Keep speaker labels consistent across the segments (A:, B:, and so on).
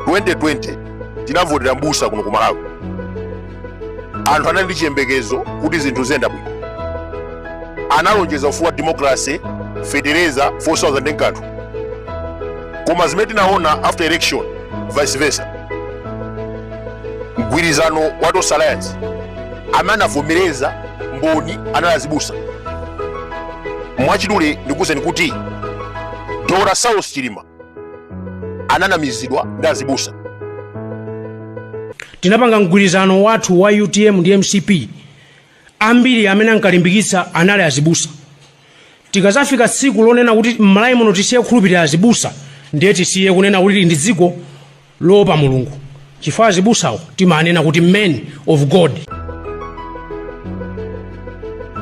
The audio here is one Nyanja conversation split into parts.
A: 2020 tinavotera mbusa kuno ku malawi anthu anali ndi chiyembekezo kuti zinthu ziyenda bwino analonjeza ufumu wa democracy fetereza 4000 nkanthu koma zimene tinaona after election vice versa mgwirizano wa Tonse Alliance amene anavomereza mboni anali azibusa mwachidule ndikuwuzeni kuti dr saulos chilima ananamizidwa ndi azibusa
B: tinapanga mgwirizano wathu wa utm ndi mcp ambiri amene ankalimbikitsa anali azibusa tikazafika tsiku lonena kuti mmalawi muno tisiye kukhulupirira azibusa ndiye tisiye kunena kuti ili ndi dziko loopa Mulungu chifukwa azibusawo timaanena kuti men of
A: God.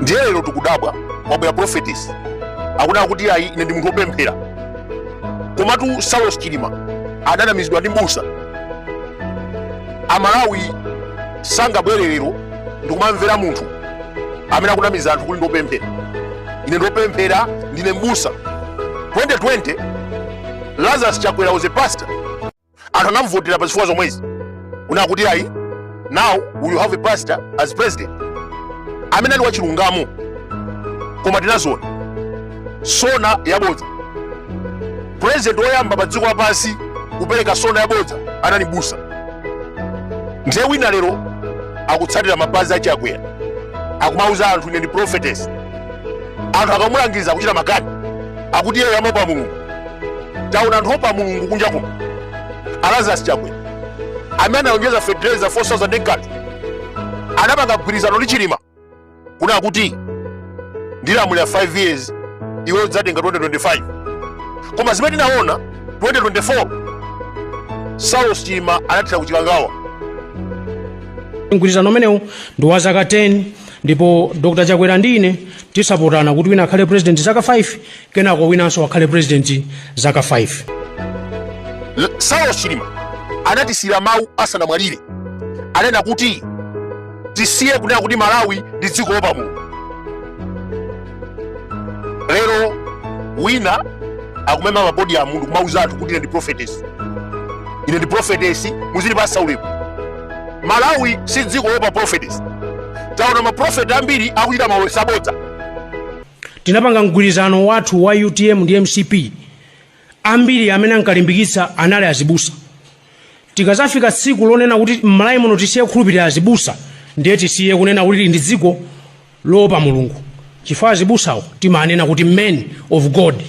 A: ndiye lero tikudabwa kwabwera prophetess akunena kuti ayi ine ndi munthu wopemphera komatu saulos chilima ananamizidwa ndi mbusa amalawi sangabwere lero ndikumamvera munthu amene akunamiza anthu kuti ndiopemphera ine ndiopemphera ndine mbusa 2020 Lazarus Chakwera was a pastor. Anthu anamvotera pa zifukwa zomwezi. Kunena kuti ayi, now we will have a pastor as president. Amene ali wachilungamo. Koma tinaziona. Sona yabodza. President woyamba pa dziko lapansi kupereka sona yabodza anali mbusa. Ndiye wina lero akutsatira mapazi a Chakwera. Akumauza anthu ine ndi prophetess. Anthu akamulangiza kuchita makani. akuti iyeyo amaopa mulungu taona anthu oopa mulungu kunja kuno lazarus chakwera amene analonjeza fetereza 4000 nkanthu anapanga mgwirizano ndi chilima kunena kuti ndilamulira 5 years iwe udzatenga 2025 koma zimene tinaona 2024 saulos chilima anathera kuchikangawa
B: mgwirizano umenewu ndi wa zaka 10 ndipo dr chakwera ndi ine tinasapotana kuti wina akhale president zaka 5 kenako winanso akhale president zaka 5 saulos
A: chilima anatisiyira mawu asanamwalire ananena kuti tisiye kunena kuti malawi ndi dziko loopa mulungu lero wina akumema pa podium kumauza anthu kuti ine ndi prophetess ine ndi prophetess muzindipasa ulemu malawi si dziko loopa prophetess taona maprofeti ambiri akuchita maulosi
B: abodza tinapanga mgwirizano wathu wa utm ndi mcp ambiri amene ankalimbikitsa anali azibusa tikazafika tsiku lonena kuti mmalawi muno tisiye kukhulupirira azibusa ndiye tisiye kunena kuti ili ndi dziko loopa mulungu chifukwa azibusawo timanena kuti men of god